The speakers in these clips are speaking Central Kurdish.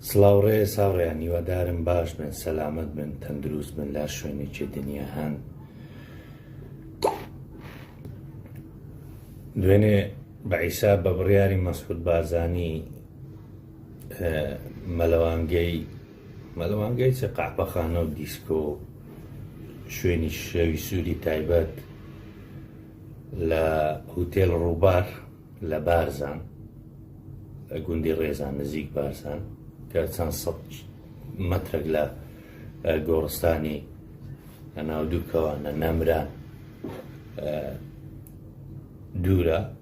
سڵاو ڕێز هاوڕێیان هیوادارم باش بن سەلامەت بن تەندروست بن لە شوێنێکی دنیا هەن دوێنێ بە عیسا بە بڕیاری مەسعود بارزانی مەلەوانگەی مەلەوانگەی چ قەحپەخانە و دیسکۆ و شوێنی شەوی سووری تایبەت لە هوتێل ڕووبار لە بارزان لە گوندی ڕێزان نزیک بارزان کە چەند سەد مەترێک لە گۆڕستانی ناودووکەوانە نەمران دوورە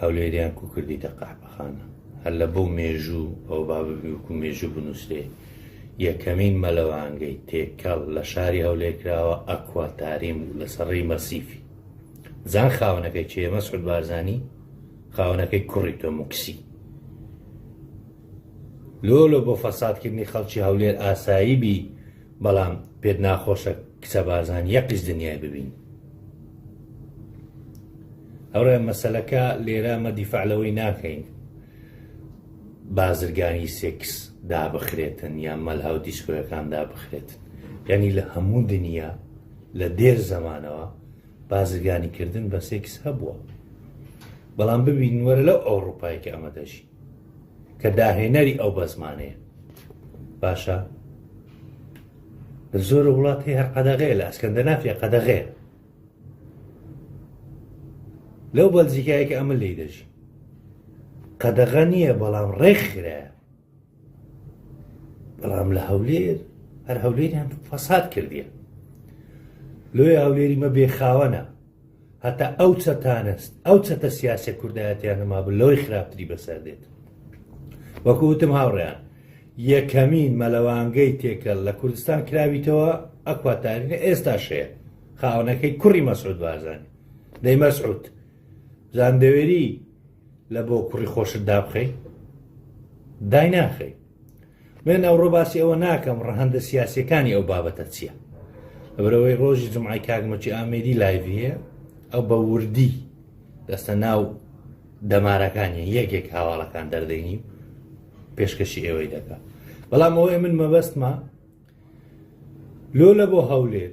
هەولێریان کو کردیتە قەحپەخانە هەر لە بەو مێژوو ئەو با ببیوکو مێژوو بنووسێ یەکەمین مەلەوانگەی تێکەڵ لە شاری هەولێر کراوە ئەکوا تاریم بوو لەسەر ڕێی مەسیفی زان خاونەکەی چێ مەسعود بارزانی خاونەکەی کوڕی تۆ مکسی لۆ لۆ بۆ فەسادکردنی خەڵکی هەولێر ئاسایی بی بەڵام پێت ناخۆشە کچە بازان یەقیش دنیای ببین ئەوڕێ مەسلەکە لێرە مە دیفاع لەوەی ناکەین بازرگانی سێکس دابخرێتن یان مەلهاو دیسکۆیەکان دابخرێتن یعنی لە هەموو دنیا لە دێر زەمانەوە بازرگانی کردن بە سێکس هەبووە بەڵام ببین وەرە لەو ئەوروپایکە ئەمە دەژی کە داهێنەری ئەو بەزمانەیە باشە لە زۆر وڵات هەیە هەر قەدەغەیە لە ئەسکەندەنافیا قەدەغەیە لەو بەلجیکایەکە ئەمە لی دەژی قەدەغە نییە بەڵام ڕێکخرایە بەڵام لە هەولێر هەر هەولێریان فەساد کردیە لۆی هەولێری مە بێخاوەنە هەتا ئەو چەتانە ئەو چەتە سیاسە کوردایەتیان نەمابوو لەوەی خراپتری بەسەر دێت وەکو وتم هاوڕیان یەکەمین مەلەوانگەی تێکەل لە کوردستان کراویتەوە ئەکواتارینە ئێستا شەیە خاونەکەی کوڕی مەسعود بارزانانی دەی مەسعود زاندەوێری لە بۆ کوڕی خۆشت دابخەی دای ناخەی من ئەوڕۆ باسی ئەوە ناکەم ڕەهەندە سیاسەکانی ئەو بابەتە چییە لەبەرەوەی ڕۆژی جمعی کاکمەچی ئامێری لایڤی هەیە ئەو بە وردی دەستە ناو دەمارەکانی یەکێک هاواڵەکان دەردەینی پێشکەشی ئێوەی دەکە بەڵام ئەوەیە من مەبەستمە لۆ لە بۆ هەولێر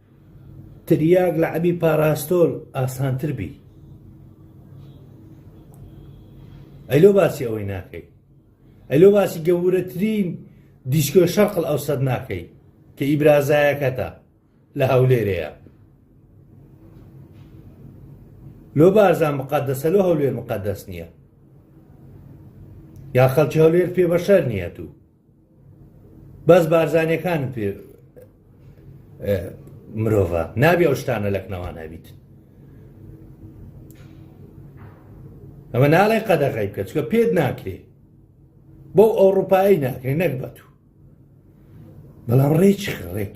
تریاک لە عەبی پاراستۆل ئاسانتر بی ئەلۆ باسی ئەوەی ناکەی ئەلۆ باسی گەورەترین دیسکۆ شەرقل ئەو سەد ناکەی کە ئیبرازایەکەتە لە هەولێرەیە لۆ بارزان مقدسە لۆ هەولێر مقدس نییە یا خەڵکی هەولێر پێ بەشەر نییە تو بەس بارزانیەکان پێ مرۆڤە نابێ ئەو شتانە لەکنەوان هەبیت ئەمە ناڵێ قەدەغی بکە چکە پێت ناکرێ بەو ئەوروپایی ناکرێ نەک بە تو بەڵام ڕێچ ڕێک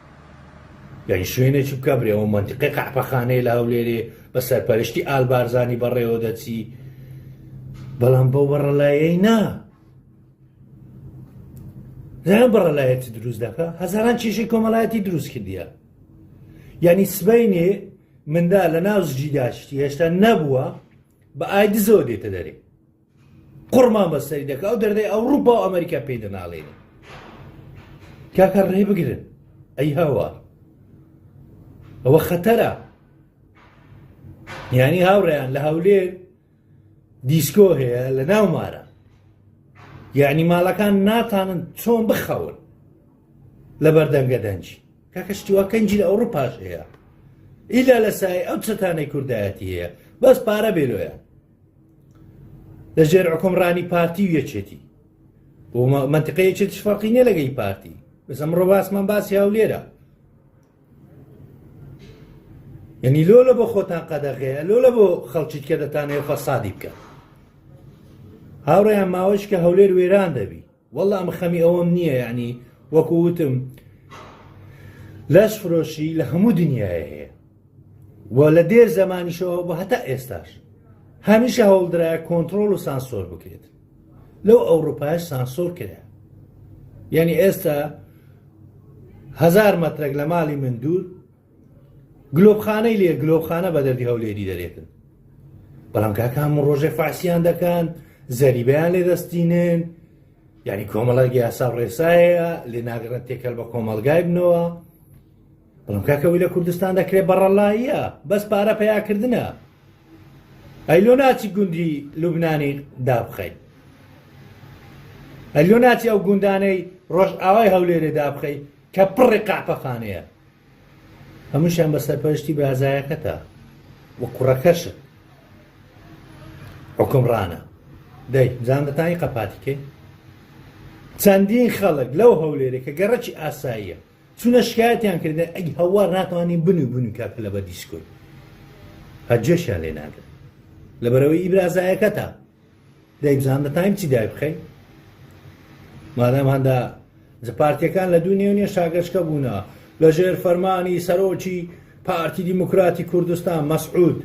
یانی شوێنێکی بکە برێ ئەو منتیقی قەحپەخانەیە لە هەولێرێ بە سەرپەرشتی ئال بارزانانی بەڕێوە دەچی بەڵام بەو بەڕەلایەی نا زیان بەڕەلایەتی دروست دەکە هەزاران چێشی کۆمەڵایەتی دروست کردیە یعنی سبینێ مندا لە ناو زجیداشتی هێشتا نەبووە بە ئایدزەوە دێتە دەرێ قوڕمان بەسەری دەکە ئەو دەردەی ئەوروپا و ئەمریکا پێی دەناڵێنی کاکە ڕێ بگرن ئەی هەوە ئەوە خەتەرە یانی هاوڕێیان لە هەولێ دیسکۆ هەیە لە ناو مارە یعنی ماڵەکان ناتانن چۆن بخەون لە بەردەنگە دەنجی کاکە شتیوا کەنجی لە ئەوروپاش هەیە ئیلا لە سای ئەو چەتانەی کوردایەتی هەیە بەس پارە بێلۆیە لە ژێر حکومڕانی پارتی و یەکێتی منتقە یەکێت شفاقی نیە لەگەی پارتی بەس ئەمڕۆ باسمان باسی هەولێرە یعنی لۆ لە بۆ خۆتان قەدەغەیە لۆ لە بۆ خەڵکیت کە دەتانەیە فەسادی بکە هاوڕێیان ماوەش کە هەولێر وێران دەبی وەڵا ئەمە خەمی ئەوەم نییە یعنی وەکو وتم لەش فرۆشی لە هەموو دنیاە هەیە و لە دێر زمانیشەوە بە هەتا ئێستاش هەمیشە هەوڵدرایە کۆنتترۆل و سانسۆر بکرێت لەو ئەوروپایش سانسۆر کرا یعنی ئێستا هزار مەترێک لە ماڵی من دوور گلۆپخانەی لێ گلۆپخانە بە دەردی هەولێری دەرێتن بەڵام کاکان ڕۆژێ فاسیان دەکەن زەریبیان لێ دەستینن یعنی کۆمەڵەک یاسا ڕێسایە لێ ناگەڕێت تێکەل بە کۆمەلگای بنەوە بەڵام کاکەوەی لە کوردستان دەکرێت بەڕەلاییە بەس پارە پیاکردە ئەی لۆ ناچی گوندی لوبنانی دابخەیت ئەلۆ ناچی ئەو گوندانەی ڕۆژ ئاوای هەولێرێ دابخەی کە پڕی قاپەخانەیە هەمووشیان بە سەرپەرشتی برازایەکەتە و کوڕەکەشت حکمڕانە دەی زانەتانی قەپاتیکەی چەندین خەڵک لەو هەولێرە کە گەڕەکی ئاساییە چونە شکایەتیان کردن ئەی هەوار ناتوانین بنوو بنوو کاکە لە بە دیسکۆی هەجێشیان لێ ناگرن لە بەرەوەی ئیبرازایەکەتە دەی بزان بە تایم چی دای بخەی مادام هەندە پارتیەکان لە دوو نێونێ شاگەشکە بوونە لە ژێر فەرمانی سەرۆکی پارتی دیموکراتی کوردستان مەسعود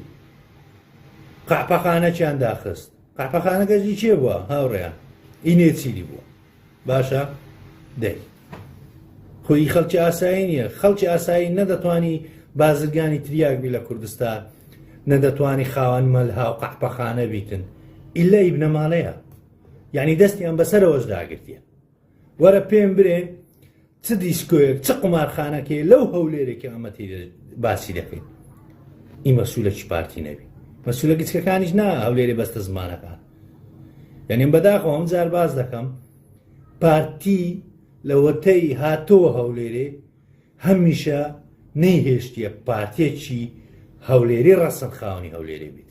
قاپەخانەکیان داخست قاپەخانەکەزی چێ بووە هاوڕێیان ئینێ چیری بووە باشە دەی خۆی خەڵکی ئاسایی نییە خەڵکی ئاسایی نەدەتوانی بازرگانی تریاک بی لە کوردستان نەدەتوانی خاوەن مەلها و قەحپەخانە بیتن ئللا ئی بنەماڵەیە یعنی دەستیان بەسەرەوەش داگرتیە وەرە پێم برێ چ دیسکۆیەک چ قومارخانەکەیە لەو هەولێرێک کە ئەمە تێ باسی دەکەین ئی مەسوولەکی پارتی نەبی مەسوولە گچکەکانیش نا هەولێرێ بەستە زمانەکان یعنیم بەداخۆ ئەم جار باز دەکەم پارتی لەوەتەی هاتەوە هەولێرێ هەمیشە نەیهێشتە پارتێکی هەولێری ڕەسەن خاونی هەولێرێ بیت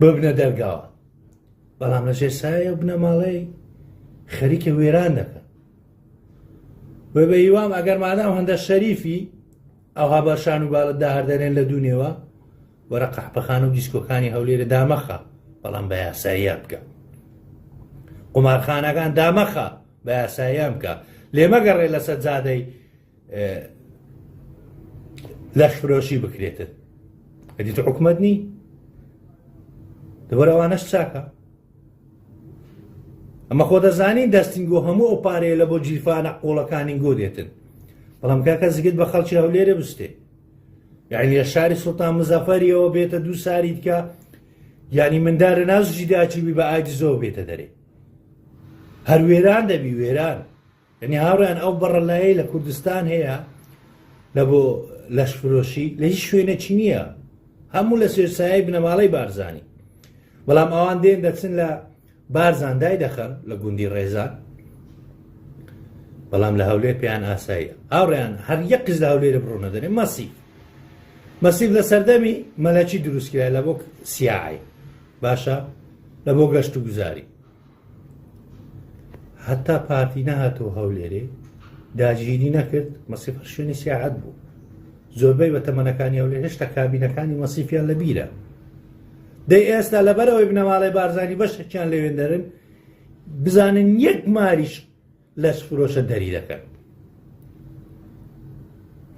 ببنە دەرگاوە بەڵام لەژێر سایە و بنەماڵەی خەریکە وێران دەکەن بە بە هیوام ئەگەر مادام هەندە شەریفی ئەوها بەشان و باڵت داهردەێن لە دوونێەوە وەرە قەحپەخان و دیسکۆکانی هەولێرە دامەخە بەڵام بە یاساییان بکە قمارخانەکان دامەخە بە یاساییان بکە لێمەگەڕێ لەسەر جادەی لەشفرۆشی بکرێتن ئەدی تو حکومت نی دەبەرەوانەش چاکە ئەمە خۆ دەزانین دەستین گۆ هەموو ئەو پارەیە لە بۆ جیرفانە قۆڵەکانی گۆ دێتن بەڵام کاکە زگت بە خەڵکی هەولێرە بستێ یعنی لە شاری سلتان مزەفەریەوە بێتە دوو ساری دیکە یعنی مندارە ناز جیداچوی بە ئاجزەوە بێتە دەرێ هەر وێران دەبی وێران یەنی هاوڕێیان ئەو بەڕەلایەی لە کوردستان هەیە لە بۆ لەشفرۆشی لە هیچ شوێنێکی نییە هەموو لە سێرسایی بنەماڵەی بارزانانی بەڵام ئەوان دێن دەچن لە بارزان دای دەخەن لە گوندی ڕێزان بەڵام لە هەولێر پێیان ئاساییە هاوڕێیان هەر یەک قز لە هەولێرە بڕۆنە دەێ مەسی مەسیف لە سەردەمی مەلەکی دروستکرای لە بۆ سیاعی باشە لە بۆ گەشت و گوزاری هەتا پارتی نەهاتەوە هەولێرێ داگیری نەکرد مەسیفەر شوێنی سیاعەت بوو زۆربەی بە تەمەنەکانی هەولێر هێشتا کابینەکانی مەسیفیان لە بیرە دەی ئێستا لەبەرەوەی بنەماڵی بارزانانی بەشێکیان لەوێندەرن بزانن یەک ماریش لەش فرۆشە دەری دەکەن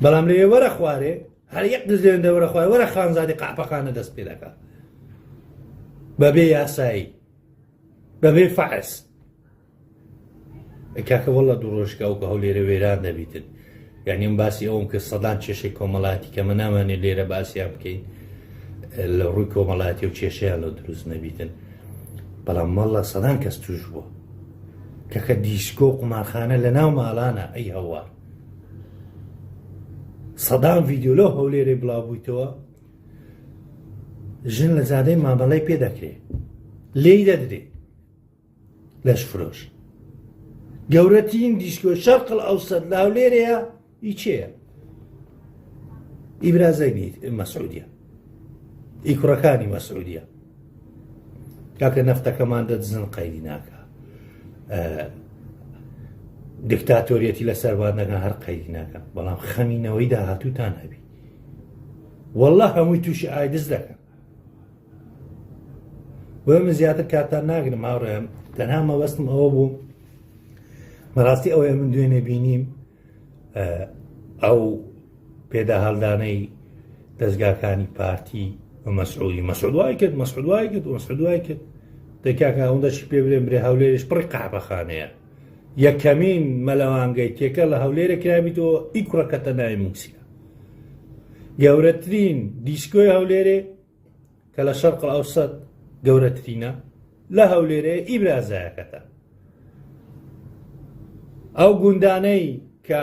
بەڵام لەوێ وەرە خوارێ هەر یەک دزێن دەوەرە خوارێ وەرە خانزادی قاپەخانە دەست پێ دەکات بەبێ یاسایی بەبێ فەحس ئەی کاکە وەڵا دوو ڕۆژکە ئەو کە هەو لێرە وێران دەبیتن یعنی ئەم باسی ئەوم کە سەدان کێشەی کۆمەڵاتی کەمە نامانێ لێرە باسییان بکەین لە ڕووی کۆمەڵاتی و کێشەیان لە دروست نەبیتن بەڵام مەڵە سەدان کەس توش بووە کەکە دیسکۆ قومارخانە لە ناو ماڵانە ئەی هەوار سەدان ڤیددیو لەو هەولێرەی بڵاوبوویتەوە ژن لە زادەی مامەڵەی پێ دەکرێ لێی دەدرێ لەش فرۆش گەورەترین دیشکۆ شەرقل ئەو سەد لاو لێرەیە ئی چێە ئیبرازای مەسعودیە ئی کوڕەکانی مەسعودیە کاکە نەفتەکەمان دەدزن قەیدی ناکە دکتاتۆریەتی لە سەربانەکە هەر قەیدی ناکە بەڵام خەمینەوەی داهاتووتان هەبی واللە هەمووی تووشی ئایدز دەکە بۆ من زیاتر کاتان ناگرم هاوڕێم تەنها مەوەستم ئەوە بوو بەڕاستی ئەوەیە من دوێنێ بینیم ئەو پێدا هەڵدانەی دەستگاکانی پارتی و مەسعودی مەسعودوای کرد مەسعودوای کرد مەسعودوای کرد دەکاکە ئەوەندەشی پێ برێن برێ هەولێریش پڕی قاعبەخانەیە یەکەمین مەلەوانگەی تێکەڵ لە هەولێرە کرابیتەوە ئی کوڕە کەتە ناوی موسیا گەورەترین دیسکۆی هەولێرێ کە لە شەرق ئەوسەد گەورەترینە لە هەولێرێ ئی برازایەکەتە ئەو گوندانەی کە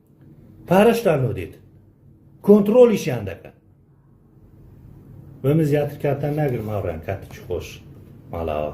پارەشتان لۆ دێت کۆنتترۆلیشیان دەکەن بە من زیاتر کاتان ناگرم هاوڕیان کاتێکی خۆش ماڵاوە